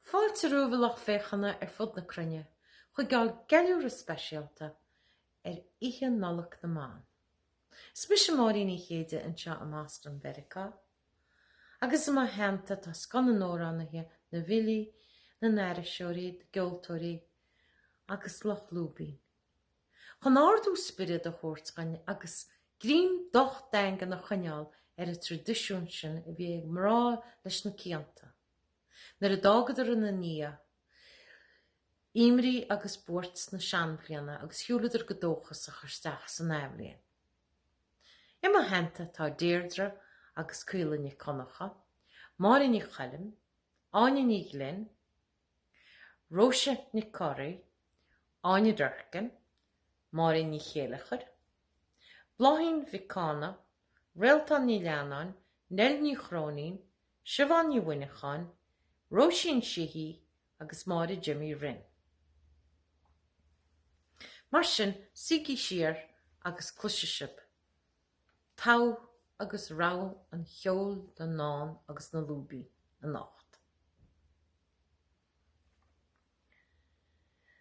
Fáilte romhaibh a lucht féachana ar fud na cruinne chuig ár gceiliúradh speisialta ar Oíche Nollag na mBan. Is mise Máirín Uí Chéide anseo i mBoston Mheiriceá. agus i mo theannta tá scoth na n-amhránaithe, na bhfilí, na n-aithriseoirí, na gceoltóirí agus lucht lúibín. Chun ardú spioraid a thabhairt dhúinn agus greim docht daingean a choinneáil ar an traidisiún sin a bhí ag mná leis na cianta, nuair a d'fhágadar ina ndiaidh imní agus buairt na seanbhliana agus shiúladar go dóchasach isteach san athbhliain. I mo theannta tá Deirdre agus Caoilfhionn Ní Dhonnacha, Máire Ní Choilm, Áine Ní Ghlinn, Róise Nic Corraidh, Áine Durkin, Máirín Ní Chéileachair, Bláithín Mhic Cána, Réaltán Ní Leannáin, Nell Ní Chróinín, Siobhán Ní Mhuineacháin, Róisín Sheehy, agus Máire Jimmy Rinn. Mar sin, suígí siar agus cloisfidh sibh togha agus rogha an cheoil, na ndán agus na lúibín anocht.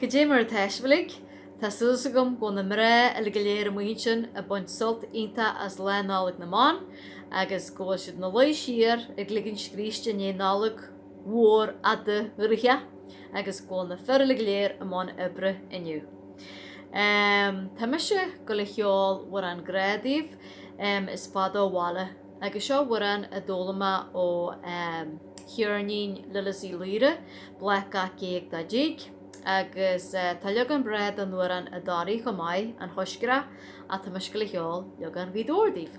Cad é mar atá sibh uilig? Tá súil agam go bhfuil na mná uilig go léir amuigh ansin ag baint sult iontach as Lá Nollag na mBan agus go bhfuil siad ina luí siar ag ligean scríste i ndiaidh Nollag mhór fhada dhraoithe agus go bhfuil na fir go léir i mbun oibre inniu. Tá mise ag gabháil a cheol amhrán grá daoibh, Is Fada ó bhaile agus seo amhrán a d'fhoghlaim mé ó cheirnín Lillis Uí Laoire, Bláth Gach Géag Dá dTig agus tá leagan breá den amhrán i dToraigh chomh maith, An Choiscreach, ach tá mise ag gabháil a cheol leagan Ghaoth Dobhair daoibh.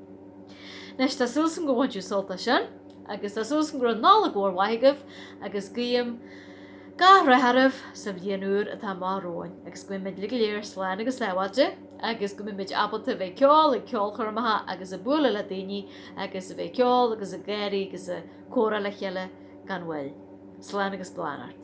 Anois, tá súil agam gur bhain sibh sult as sin agus tá súil agam go raibh Nollaig mhór mhaith agaibh agus guím gach rath oraibh sa bhliain úr atá amach romhainn agus go mbeimid uilig go léir slán agus sábháilte agus go mbeimid ábalta a bheith ag ceol ag ceolchoirmeacha agus ag bualadh le daoine agus a bheith ag ceol agus ag gáirí agus ag comhrá le chéile gan mhoill. Slán agus beannacht.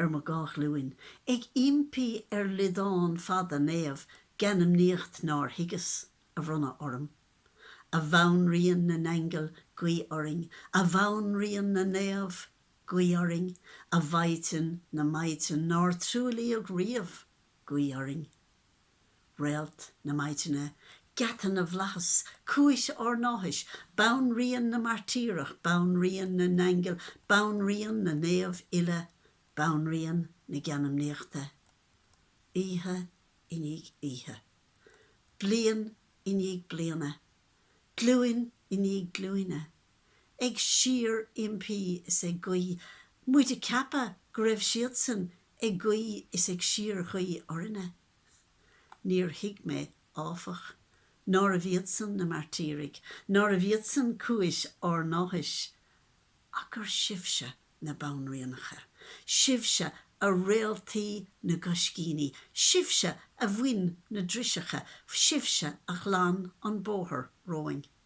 ar mo dhá ghlúin ag impí ar liodán fada naomh geanmnaíocht nár thuigeas a bhronnadh orm. A bhanríon na n-aingeal, guí orainn, a bhanríon na naomh, guí orainn, a mhaighdean na maighdean nár truaillíodh riamh, guí orainn. Réalt na Maidine, Geata na bhFlaitheas, Cúis ár nÁthais, Banríon na Mairtíreach, Banríon na nAingeal, Banríon na Naomh Uile, Banríon na Geanmnaíochta. Oíche i ndiaidh oíche. Bliain i ndiaidh bliana. Glúin i ndiaidh glúine. ag síor-impí is ag guí, muid ag ceapadh go raibh siadsan ag guí is ag síorghuí orainne. Níor thuig mé, áfach, nárbh iadsan na mairtírigh, nárbh iadsan cúis ár n-áthais, ach gur sibhse na banríonacha, sibhse a réaltaí na gcoiscíní, sibhse a bhain na driseacha, sibhse a ghlan an bóthar romhainn.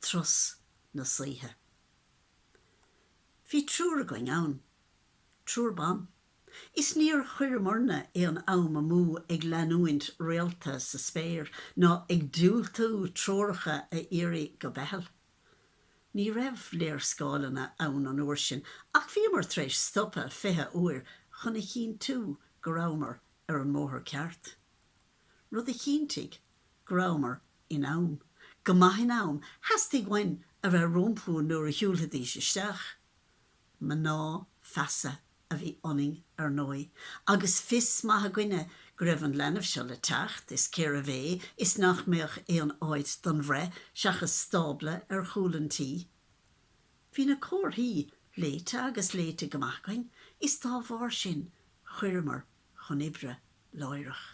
Turas na Saoithe. Bhí triúr againn ann. Triúr ban. Is níor chuireamarna aon am amú ag leanúint réalta sa spéir ná ag diúltú treoracha a iarraidh go Beithil. Ní raibh léarscáileanna ann an uair sin ach bhíomar tar éis stopadh 20 uair chun a chinntiú go rabhamar ar an mbóthar ceart. rud a chinntigh go rabhamar in am, go maith in am, theastaigh uainn a bheith rompu nuair a shiúlfaidís isteach. Mná feasa a bhí ionainn, ar ndóigh, agus fios maith againne go raibh an leanbh seo le teacht is cérbh é is nach mbeadh aon áit don bhreith seachas stábla ar chúl an tí. Bhí na comharthaí léite agus léite go maith againn is dá bharr sin chuireamar chun oibre láithreach.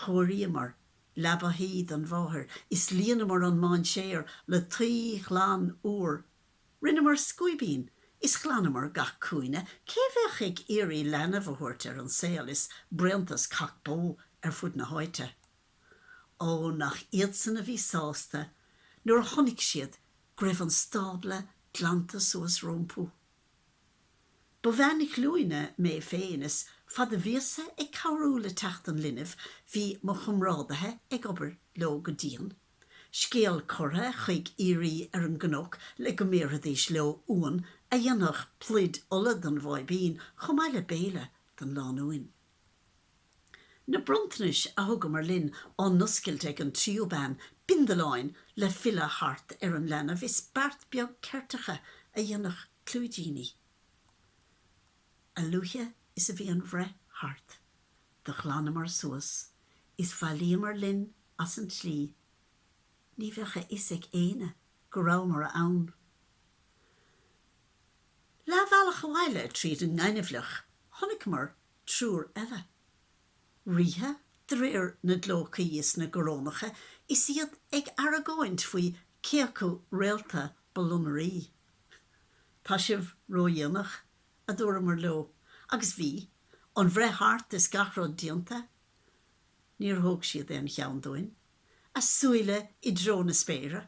Chóiríomar leaba thuí don mháthair is líonamar an mainséar le tuí ghlan úr. Rinneamar scuaibín is ghlanamar gach cúinne. Cé bheadh ag iarraidh leanbh a thabhairt ar an saol is bréantas cac bó ar fud na háite? Ó, nach iadsan a bhí sásta nuair a chonaic siad go raibh an stábla glanta suas rompu. Ba bhean ghlúine mé féin, is fad a bhíos-sa ag cabhrú le teacht an linbh, bhí mo chomrádaithe ag obair leo go dian, scéal curtha chuig aoirí ar an gcnoc le go mbéarfaidís leo uan a dhéanfadh pluid ola don bháibín chomh maith le béile don lánúin. Na bronntanais a thugamar linn á n-oscailt ag an tríú bean, bindealáin le filleadh thart ar an leanbh is beart beag ceirteacha a dhéanfadh clúidíní. A luaithe is a bhí an bhreith thart, do ghlanamar suas is bhailíomar linn as an tslí, ní bheadh a fhios ag éinne go rabhamar ann. Leathbhealach abhaile tríd an ngaineamhleach chonaiceamar triúr eile. Ríthe de réir na gclócaí is na gcorónacha is iad ag argóint faoi cé acu réalta ba lonnairí. Tá sibh ródhéanach, a dúramar leo, agus bhí, an bhreith thart is gach rud déanta. Níor thóg siad aon cheann dúinn, a súile i dtreo na spéire.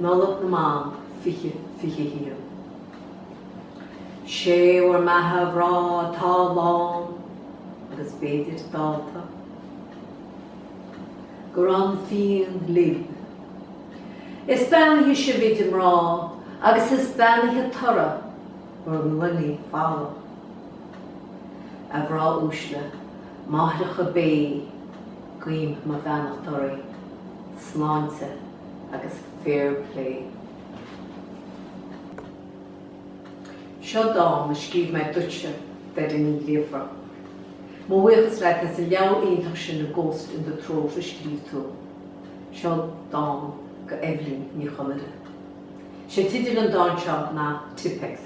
Nollaig na mBan 2021 Sé bhur mbeatha a mhná atá lán agus b'fhéidir dallta go raibh an fíon libh. Is beannaithe sibh idir mná agus is beannaithe toradh bhur ngloiní folmha. A mhná uaisle, máithreacha béithe, Guím mo bheannacht oraibh. Sláinte agus fair play. Seo dán a scríobh mé duitse, Doireann Ní Ghríofa. Mo bhuíochas leat as an leabhar iontach sin A Ghost in the Throat a scríobh tú. Seo dán go Eibhlín Ní Chonaire. Sé tideal an dáin seo ná Tippex.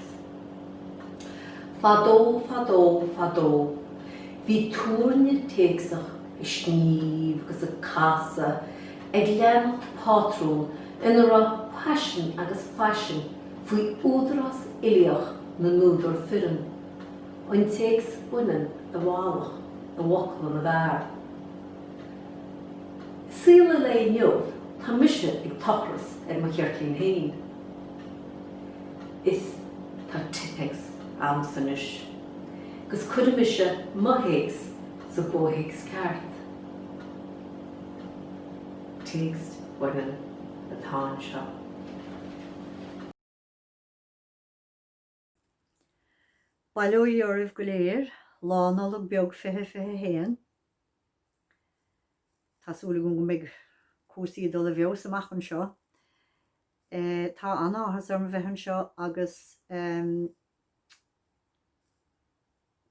Fadó, fadó, fadó. Bhí tuirne téacsach ag sníomh agus ag casadh ag leanacht pátrún ina raibh paisean agus faisean faoi údarás uilíoch na n-údar fireann, an téacs baineann i bhfalach i bhfocla na bhfear. I saol an lae inniu tá mise ag tochras ar mo cheirtlín féin is tá tippex a'msa anois. gus cuirfidh mise mo théacs sa gcomhthéacs ceart. téacs baineann atá anseo. Bail ó Dhia oraibh go léir Lá Nollag Beag 2021. Tá súil agam go mbeidh cúrsaí ag dul i bhfeabhas amach anseo. Tá an-áthas orm a bheith anseo agus.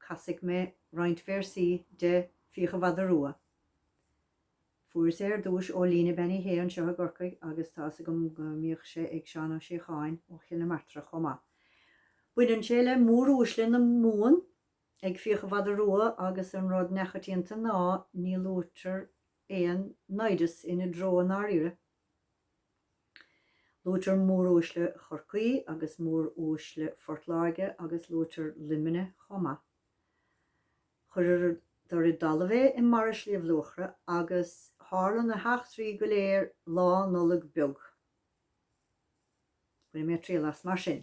Casfaidh mé roinnt véarsaí de 'Fiach an Mhada Rua'. Fuaireas é ar dtúis ó Lena Bean Uí Shé anseo i gCorcaigh agus tá 'fhios agam go mbíodh sé ag Seán Ó Síocháin ó Chill na Martra chomh maith. Baineann sé le mór-uaisle na Mumhan ag 'Fiach an Mhada Rua' agus an rud neachoitianta ná ní luaitear aon naimhdeas ina dtreo i ndáiríre Luaitear móruaisle Chorcaí agus móruaisle Phort Láirge agus luaitear Luimneach chomh maith. Chuireadar i dtalamh é i mBarra Shliabh Luachra agus tharla na heachtraí go léir Lá Nollag Beag. Bainfidh mé triail as mar sin.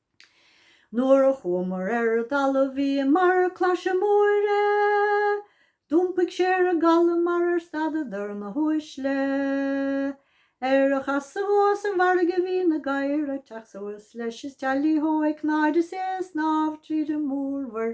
Nuair a chuamar ar an dtalamh bhí i mbarra Claise Móire, d'iompaigh sé ar an gcaladh mar ar stadadar na huaisle. Ar a chasadh chuaigh sa bhfarraige bhí na gadhair ag teacht suas leis is teailí hó ag cnáid is é ag snámh tríd an mórmhuir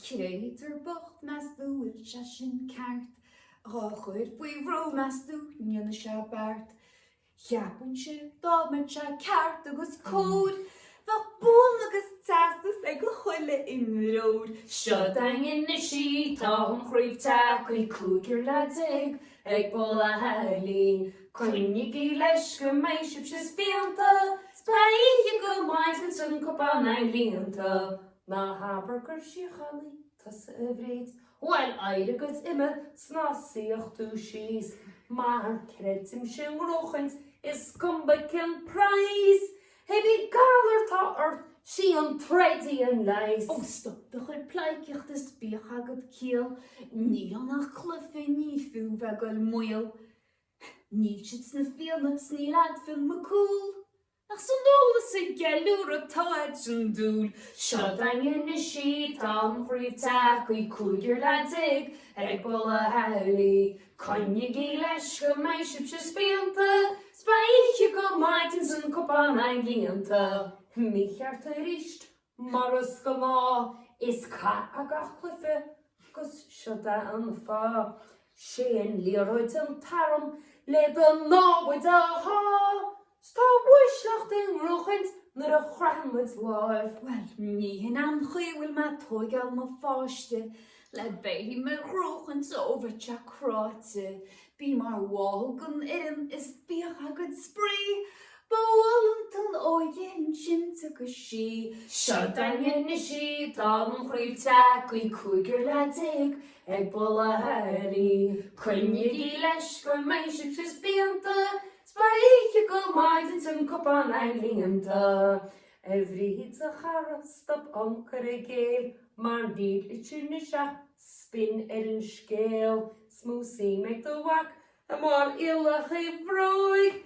Créatúr bocht meastú bhfuil sé sin ceart Dhá chur faoi bhrú meastú ndéanfaidh sé beart Cheapann sé dá mbeadh sé ceart agus cóir Bheadh bonn agus teastas ag chuile imreoir Seo daingean na sí, tá an chraobh tagtha Cúigear lá déag ag bualadh a chéile Coinnígí leis go mbeidh sibhse spíonta 'S beidh oíche go maidin 's an cupán a'inn líonta. Ná habair gur síochánaí tusa, a Bhríd. Bhuel, éirigh agus imigh 's ná suíodh tú síos, Mar creidimse i ngnóchaint is cuma cén praghas, Cibé galar 'tá ort, sí an troid í an leigheas. Ó, stop do chuid pleidhcíochta 's bíodh agat ciall, Níl ann ach cluife, ní fiú bheith 'gul i mbaol, Níl siad sna Fianna 's níl a'd Fionn Mac Cumhail. Ach san ól is sa gceiliúradh tá a'd an dúil seo daingean na sí an chraobh Teachaidh cúigear leath déag ag bualadh a chéile Coinnigí leis go mbeidh sibhse spíonta 'S beidh oíche go maidin 's an cupán a'inn líonta Mícheart aríst Mar is gnáth, is cath é gach cluife agus seod é an fáth. Sé an liathróid an t-arm le do námhaid a shá, 'S tá uaisleacht i ngnóchaint nuair a chroitheann muid láimh. Bhuel, ní hin an chaoi a bhfuil mé ag tóigeáil mo pháiste, Le béim ar dhrochchaint ó bhitseach cráite, bí mar bhall den fhoireann is bíodh agat spraoi, ba mhall an t-an óige insint agus sí seo daingean anois í tá an chraobh tagthaí cúigear lá déag ag bualadh Chiarraí. Coinnígí leis go mbeidh sibhse spíonta 's beidh oíche go maidin 's an cupán lán líonta a Bhríd a chara stop an cur i gcéill Mar an gcéad litir nó seo spin ar an scéal 's mó suim ag do mhac i mbarriallacha a bhróig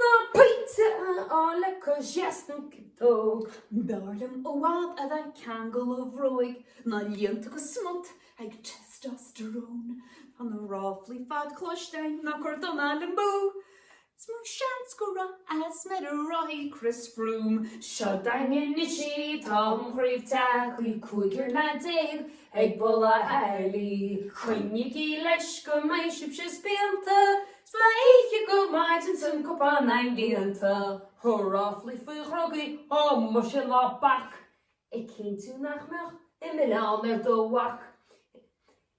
Ná pointe a fháil le cois dheis nó ciotóg. B'fhearr liom i bhfad a bheith ag ceangal a bhróig Ná líonta go smut ag testosterone Tá na ráflaí ar fad cloiste ag na cur dona le mó Is mó seans go raibh asma ar an rothaí Chris Froome seo daingean anois í tá an chraobh tagthaí cúigear le déag ag bualadh Chiarraí. Coinnígí leis go mbeidh sibhse spíonta 's beidh oíche go maidin 's an cupán lán líonta Ó ráflaí faoi dhrugaí, ó muise ná bac, Ag cinntiú nach mbeadh aon mhilleán ar do mhac.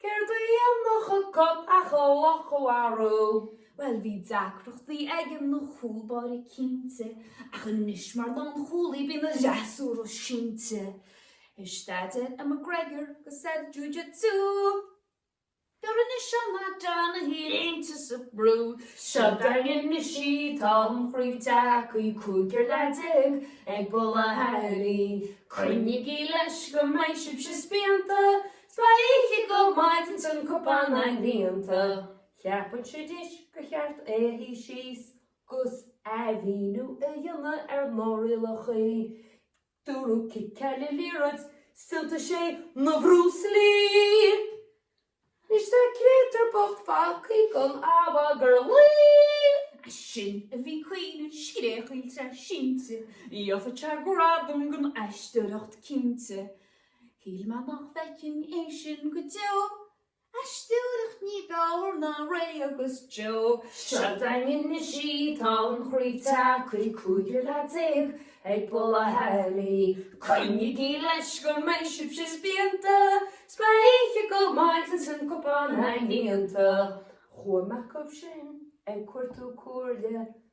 Céard a dhéanfadh an cat ach an luch a mharú. Bhuel, bhí deacrachtaí aige ina chúl báire cinnte, ach anois mar lánchúlaí bíonn a fhreasúra sínte. Ag staidéar ar McGregor agus ar Jiu-Jitsu. Dar anois an Matt Donaghy léinte sa brú. Seo daingean anois í, tá an chraobh tagthaí, cúigear le déag ag bualadh Chiarraí. Coinnígí leis go mbeidh sibhse spíonta, 's beidh oíche go maidin 's an cupán lán líonta? Ceapann Sidis gur cheart é a shuí síos 'gus athmhíniú a dhéanamh ar na rialacha. Dúradh ciceáil an liathróid 's tá sé ina Bhruce Lee! Anois tá an créatúr bocht fágthaí gan a mhagairlí! Ansin a bhí caoineadh scréachaíl tá sé sínte, gheofadh sé gradam don aisteoireacht cinnte. Shíl mé nach bhfeicfinn é sin go deo, aisteoireacht ní b'fhearr ná Ray agus Joe. Seo daingean anois í, tá an chraobh tagthaí, cúigear le déag ag bualadh Chiarraí. Coinnígí leis go mbeidh sibhse spíonta, 's beidh oíche go maidin 's an cupán lán líonta. Chuaigh mé chugaibhse ag cuartú comhairle.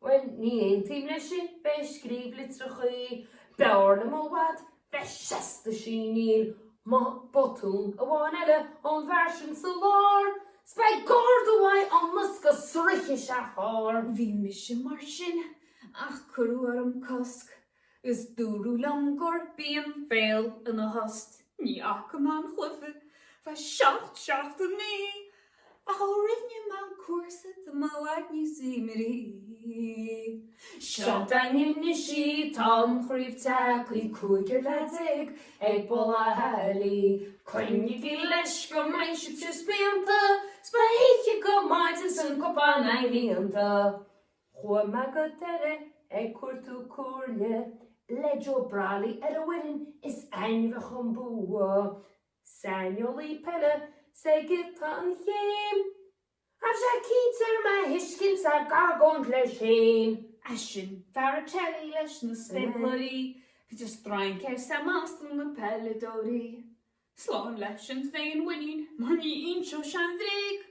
Bhuel, ní aontaím leis sin, bheith ag scríobh litreacha b'fhearr liom i bhfad, bheith seasta síníl mo botún amháin eile ón bhfear sin sa lár, 's beidh garda uaidh ón mbosca go sroiche sé a charr. Bhí mise mar sin, ach cuireadh orm cosc Is dúradh liom gur binn béal ina thost, ní fhaca mé an cluiche le seacht seachtainí ach ó rinne mé an cúrsa do mo Dhaid níos iomairí. Seo againn anois í tá an chraobh tagthaí, cúigear le déag ag Baile Átha Lí. Coinnígí leis go mbeidh sibhse spíonta 's beidh oíche go maidin 's an cupán líonta. Chuaigh Margot Delle ag cuartú comhairle le Joe Brolly ar an bhfoireann is ainmhithe chun bua. Saineolaí peile sa giota an chéim. Raibh sé cinnte ar mo thuiscint ag argóint leis féin. É sin Faratelli leis na spéacláirí, bhíodh strainc air sa mbás do na peileadóirí. Slán leis an féinmhuinín mar ní inseodh sé an bhréag.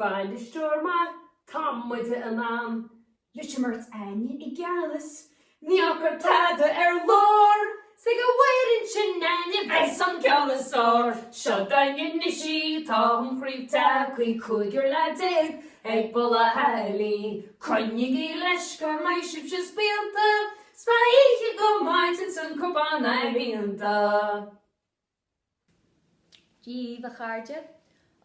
Bainisteoir maith, tá muid in ann! Litrimark Áine i gceannas, ní fhágtar tada ar lár 's ag an bhfoireann sin Áine bheas an ceol is fearr! Seo againn anois í, tá an chraobh tagthaí cúigear leath déag ag Baile Átha Lí Coinnígí leis go mbeidh sibhse spíonta 's beidh oíche go maidin 's an cupán líonta! Dia dhaoibh a chairde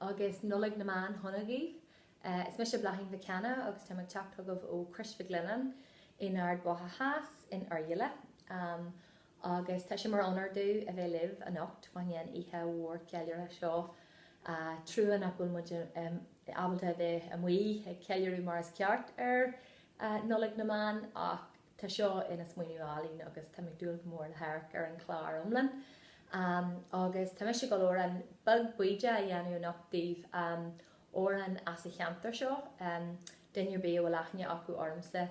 agus Nollaig na mBan shona dhaoibh. Is mise Bláithín Mhic Cana agus táim ag teacht chugaibh ó Chrois Mhic Lionnáin in Ard Mhacha Theas in Oirialla agus tá sé mar onóir domh a bheith libh anocht fá choinne an oíche mhór cheiliúrtha seo. Trua nach bhfuil muid ábalta a bheith amuigh ag ceiliúradh mar is ceart ar Nollaig na mBan ach, Tá seo ina smaoineamh álainn agus táim ag dúil go mór le hamharc ar an chlár iomlán. Agus tá mise ag gabháil amhrán beag baoideach a dhéanamh anocht daoibh amhrán as an cheantar seo. Duine ar bith a bhfuil aithne acu ormsa,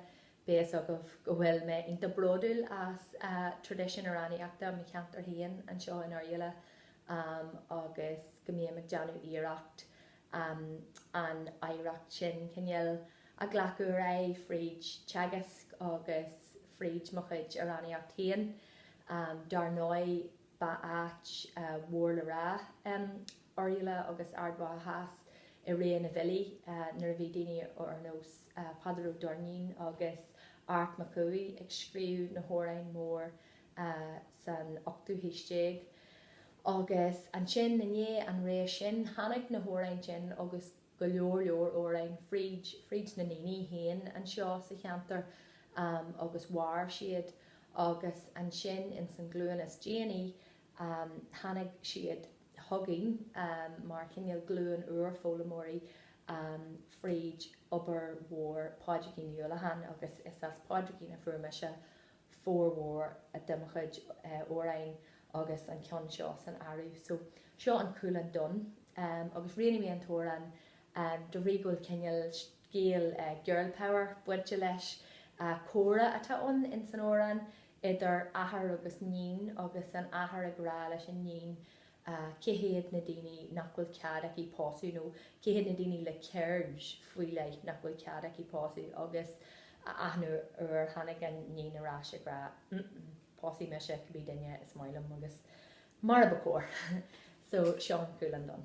beidh fhios agaibh go bhfuil mé iontach bródúil as traidisiún amhránaíochta mo cheantair féin anseo in Oirialla agus go mbím ag déanamh iarracht um an oidhreacht sin, cineál, a ghlacadh ar aghaidh fríd teagasc agus fríd mo chuid amhránaíocht féin. um Dar ndóigh, ba áit mhór le rá um Oirialla agus Ard Mhacha Theas i ré na bhfilí nuair a bhí daoine ar nós Peadar Ó Doirnín agus Art Mac Cumhaigh ag scríobh na hamhráin mór a san ochtú haois déag agus ansin i ndiaidh an ré sin tháinig na hamhráin sin agus go leor leor amhráin fríd, fríd na ndaoine féin anseo sa cheantar agus mhair siad agus ansin in san glúin is déanaí tháinig siad chugainn mar chineál glúin úr foghlaimeoirí fríd obair mhór Phádraigín Ní Uallacháin agus is as Pádraigín a fuair mise formhór de mo chuid amhráin agus an ceann seo san áireamh. So, seo An Cúileann Donn agus roghnaigh mé an t-amhrán de bhrí go bhfuil cineál scéal girl power bainte leis. Comhrá atá ann in san amhrán idir athair agus níon agus an athair ag rá leis an níon a. Cé hiad na daoine nach bhfuil cead aici pósadh nó cé hiad na daoine le ceird faoi leith nach bhfuil cead aici pósadh agus a achan uair tháinig an níon ar ais ag rá pósfaidh mise cibé duine is maith liom agus mar a ba chóir so seo An Cúileann Donn.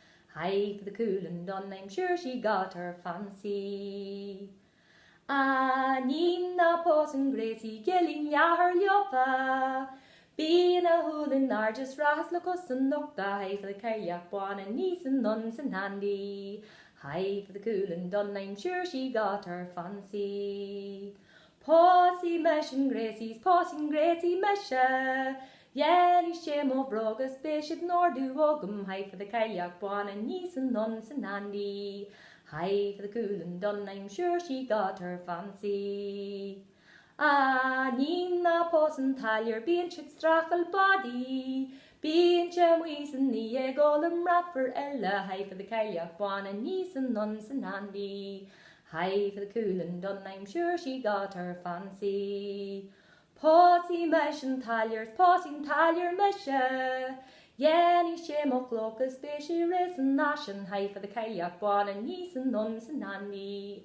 Hi for the cool and done I'm sure she got her fancy A Nín ná pósann Gracie Gelling leathair leofa Bíonn a shúil in airde srathas le cos an nochta Hi for the cailleach bána ní san ndon san handy Hi for the cool and done I'm sure she got her fancy Pósfaidh mise an gréasaí 's pósfaidh an gréasaí mise Dhéanfaidh sé mo bhróga 's beidh siad in ordú agam High for the cailleach bán a níos an damhsa an-handy High for the cúileann donn I'm sure she got her fancy A níon ná pós an táilliúr bíonn siad streachail body Bíonn sé amuigh san oíche ag ól i mbrat fir eile High for the cailleach bán a níos an damhsa an-handy Hi for the cúileann donn I'm sure she got her fancy Pósfaidh mise an táilliúr is pósfaidh an táilliúr mise Dhéanfaidh sé mo chlóca is beidh sé réidh san fhaisean Hi for the cailleach bán a níos an damhsa an-handy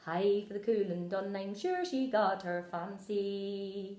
Hi for the cúileann donn I'm sure she got her fancy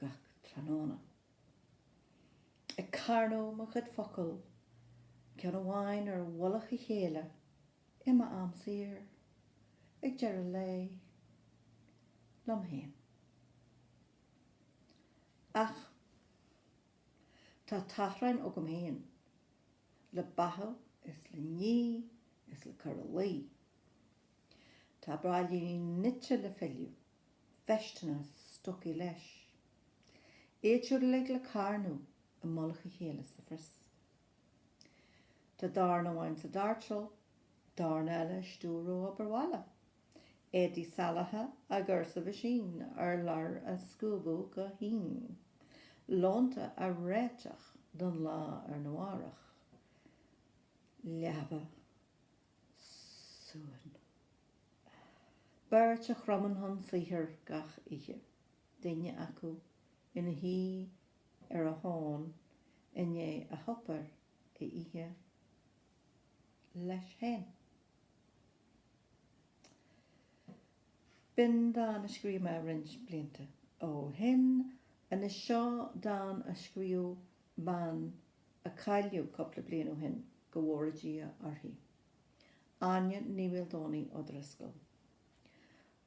gach tráthnóna. Ag carnadh mo chuid focal, ceann amháin ar mhullach a chéile, i m'am saor, ag deireadh lae. Liom féin. Ach tá tachráin agam féin le beathú is le ní is le cur a luí. Tá braillíní nite le filleadh. veisteanna stocaí leis. Iad siúd uilig le carnadh i mullach a chéile sa phrios. Tá dorn amháin sa doirteal, dorn eile ag stiúradh obair bhaile. Éadaí salaithe á gcur sa mheaisín, urláir á scuabadh go híon, lónta á réiteach don lá arna mhárach. Leaba. suan. Beirt a chromann chun saothair gach oíche, duine acu ina shuí ar a thóin i ndiaidh a shuipéar a ithe leis féin. B'in dán a scríobh mé roinnt blianta ó shin. Anois seo dán a scríobh mban a cailleadh cúpla bliain ó shin, go bhfóire Dia uirthi, Áine Ní Mhaoldomhnaigh O'Driscoll,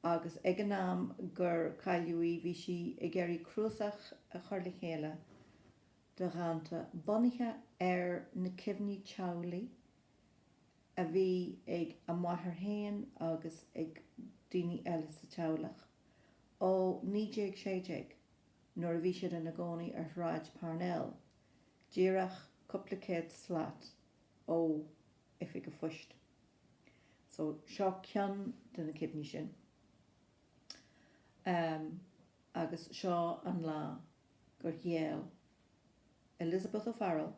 agus ag an am gur cailleadh í bhí sí ag iarraidh cnuasach a chur le chéile de dhánta bunaithe ar na cuimhní teaghlaigh a bhí ag a máthair féin agus ag daoine eile sa teaghlach ó 1916. nuair a bhí siad ina gcónaí ar Shráid Parnell, díreach cúpla céad slat ó Oifig a' Phoist. So, seo ceann de na cuimhní sin. Amm, agus seo an lá gur ghéill Elizabeth O'Farrell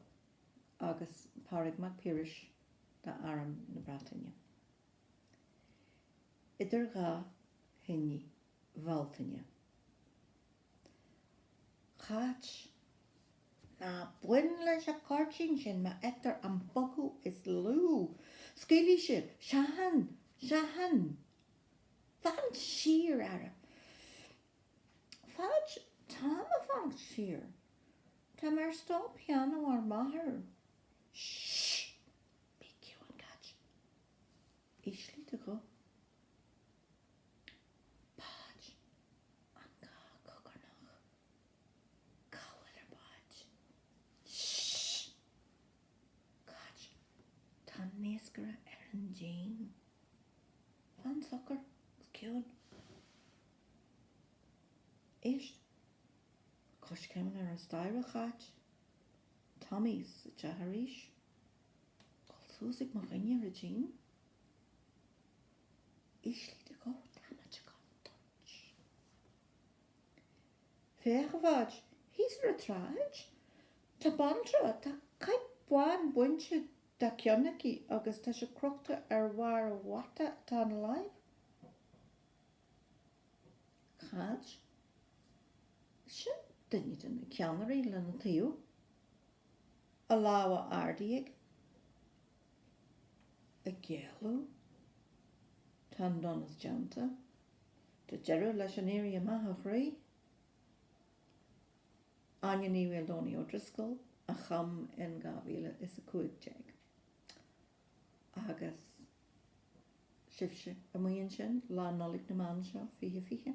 agus Pádraig Mac Piarais d'Arm na Breataine. Idir dhá thine. Bhealtaine. Cáit. Ná bain leis a' gcuirtín sin, má fheictear an bogadh is lú, scaoilfidh sé, seachain! seachain! Fan siar, ara! Bháid, Táim a' fanacht siar, tá mé ar stól pianó ár máthar. Sh! Bí ciúin, Cáit. Ísligh do ghuth. Báid an gá cogarnach. Cá bhfuil ar báid. Sh! Cáit, tá an naoscaire ar an díon. Fan socair, is ciúin. Éist! Coiscéimeanna ar an staighre, Cháit. Tommy sa teach arís. Gabháil suas ag mo dhuine ar an díon. Ísligh do ghuth tá muid i gcontúirt. Féach a Bháid, thíos ar an tsráid, tá banaltra, tá caidhp bhán bainte dá ceann aici agus tá sé crochta ar bharr an bhata atá ina láimh. Cáit? Sin duine de na ceannairí lena taobh. a lámha ardaithe ag géilleadh, tá an donas déanta, tá deireadh leis an éirí amach a chroí. Áine Ní Mhaoldomhnaigh O'Driscoll a chum in 2015. Agus sibhse amuigh ansin, Lá Nollag na mBan seo, 2020.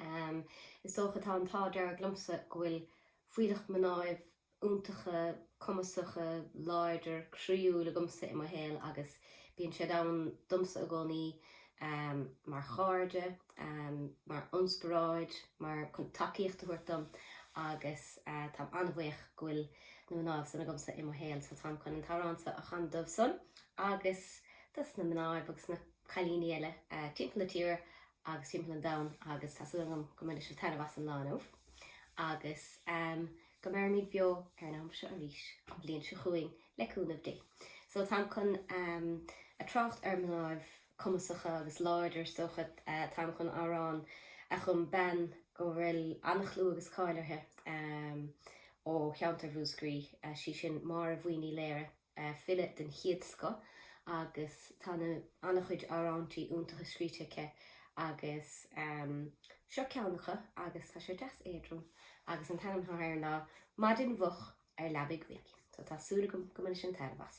Um, is dócha, tá an t-ádh dearg liomsa, go bhfuil fuílleach mnáibh iontacha, cumasacha, láidir, croíúil agamsa i mo shaol agus bíonn siad ann domsa i gcónaí, mar chairde, mar ionspioráid, mar chun tacaíocht a thabhairt dom agus táim an-bhuíoch go bhfuil na mnáibh san agamsa i mo shaol so táim chun an t-amhrán seo a chanadh dóibh san agus dos na mnáibh agus na cailíní eile timpeall na tíre agus timpeall an domhain agus tá súil agam go mbainfidh sibh taitneamh as an lá inniu agus go mbeirimid beo ar an am seo arís an bhliain seo chugainn le cúnamh Dé. So táim chun a trácht ar mnáibh cumasacha agus láidir is dócha, táim chun amhrán a chum bean go bhfuil an-chlú agus cáil uirthi ó cheantar Mhúscraí, 'sí sin Máire Bhuí Ní Laoire. file den chéad scoth agus tá an-chuid amhráintí iontacha scríte aici agus seo ceann acu agus tá sé deas éadrom agus an t-ainm atá air ná Maidin Mhoch ar Leabaidh Bhig so tá súil agam go mbainfidh sibh an-taitneamh as.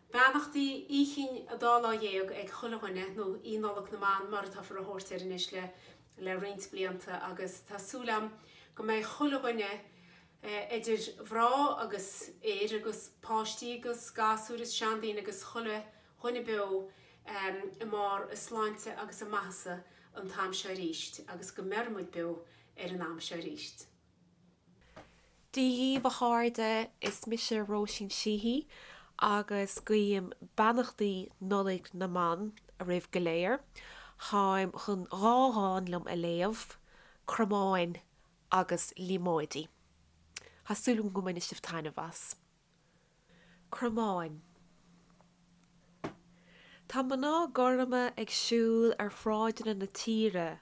Beannachtaí Oíche Chinn an Dá Lá Dhéag ag chuile dhuine, nó Oíche Nollaig na mBan mar atáthar a thabhairt air anois le roinnt blianta agus tá súil agam go mbeidh chuile dhuine eidir mhrá agus fhir agus páistí agus gasúir is seandaoine agus chuile dhuine beo i mbarr a sláinte agus a maitheasa an t-am seo aríst agus go mbeirimid beo ar an am seo aríst. Dia dhíbh, a chairde, is mise Róisín Sheehy agus guím beannachtaí Nollaig na mBan oraibh go léir. Táim chun dhá dhán liom a léamh, Cromáin agus Líomóidí. Tá súil agam go mbainfidh sibh taitneamh as. Cromáin. Tá mná gorma ag siúl ar shráideanna na tíre.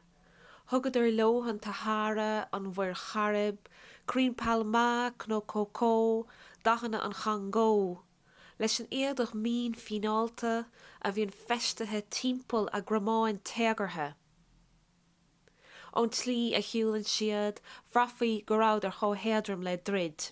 Thugadar leo an tSahára, an Mhuir Chairib, crainn phalma, cnó cócó, dathanna an Chongó. Leis an éadach mín fíneálta a bhíonn feistithe timpeall a gcromáin téagartha ón tslí a shiúlann siad, bhraithfeá go rabhadar chomh héadrom le druid.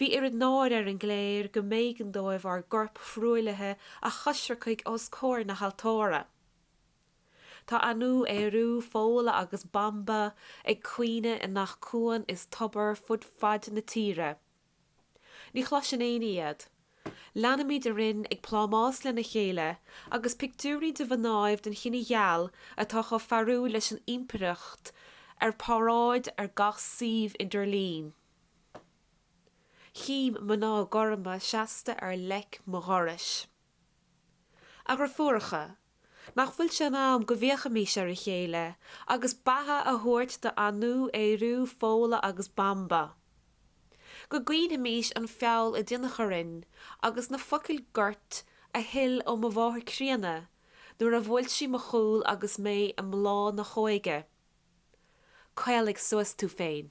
Bhí oiread náire ar an gcléir go mb'éigean dóibh ár gcorp thruaillithe a choisreacadh os comhair na haltóra. Tá Anu, Ériú, Fódhla agus Banba ag caoineadh i ngach cuan is tobar fud faid na tíre. Ní chloiseann éinne iad. Leanaimid araon ag plámás lena chéile agus pictiúirí de mhnáibh den chine gheal atá chomh fearúil leis an ímpireacht ar páráid ar gach suíomh idirlín. Chím mná gorma seasta ar leic mo dhorais. A dhreifiúracha, nach bhfuil sé in am go bhféachaimís ar a chéile agus beatha a thabhairt d'Anú, Ériú, Fódhla agus Banba? Go gcaoinfimís an feall a deineadh orainn agus na focail goirt a shil ó mo mháthair chríonna nuair a bhuail sí mo chúl agus mé i mbláth na hóige. Caolaigh suas tú féin.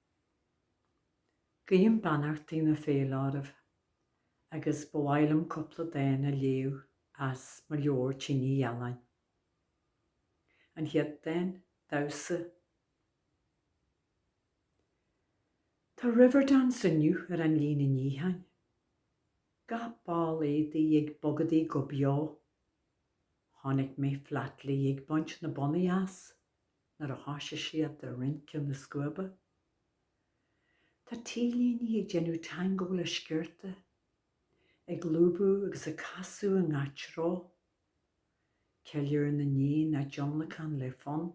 Guím beannachtaí na Féile oraibh agus ba mhaith liom cúpla dán a léamh as mo leabhar Tine Ghealáin. An chéad dán, damhsa. Tá Riverdance inniu ar an líne níocháin. Gach ball éadaí ag bogadaí go beo. Chonaic mé Flatley ag baint na bonnaí as. nuair a thosaigh siad de rince na scuaibe. Tá T-léine ag déanamh tangó le sciorta, ag lúbadh agus ag casadh i ngach treo. Ceiliúr na n-éan á dtionlacan le fonn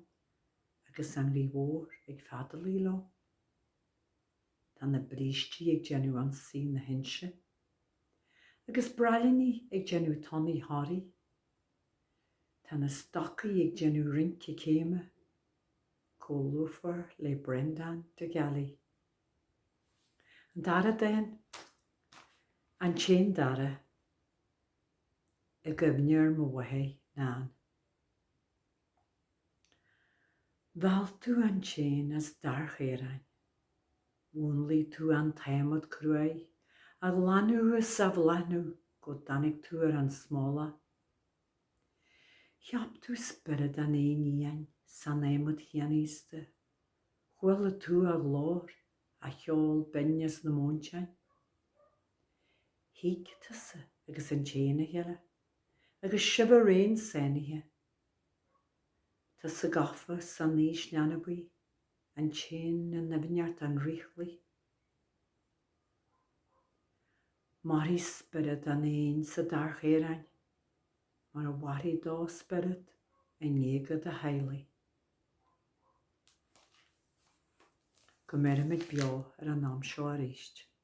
agus an ghaoth mhór ag feadalaigh leo. Tá na brístí ag déanamh Ionsaí na hInse, agus braillíní ag déanamh Tonnaí Thoraí. Tá na stocaí ag déanamh rince céime chomh lúfar le Breandán de Gallaí. An dara dán, 'An tÉan Dara' i gcuimhne ar mo mháthair, Nan. Mheall tú an t-éan as dair chaoráin, Mhúnlaigh tú an t-adhmad cruaidh, á ghlanadh is á bhláthnú go dtáinig tú ar an smólach. Cheap tú spiorad an éin fhiáin san adhmad chianaosta. Chuala tú a ghlór, a cheol binn as na móinteáin. Thuig tusa agus an t-éan a chéile, agus sibh araon sáinnithe. Tusa gafa san aois leanbaí, an t-éan i ndoimhneacht an fhraochlaigh. Mairfidh spiorad an éin sa dair chaoráin mar a mhairfidh do spiorad i ngéaga do theaghlaigh. Go mbeirimid beo ar an am seo arís.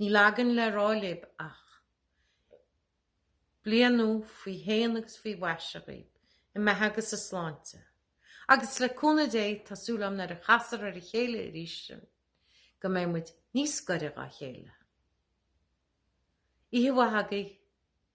Níl againn le rá libh ach, Bliain nua faoi shéan agus faoi mhaise agaibh, i maith agus i sláinte. Agus le cúnamh Dé, tá súil agam nuair a chasfar ar a chéile arís sinn, go mbeidh muid níos gaire dhá chéile. Oíche mhaith agaibh.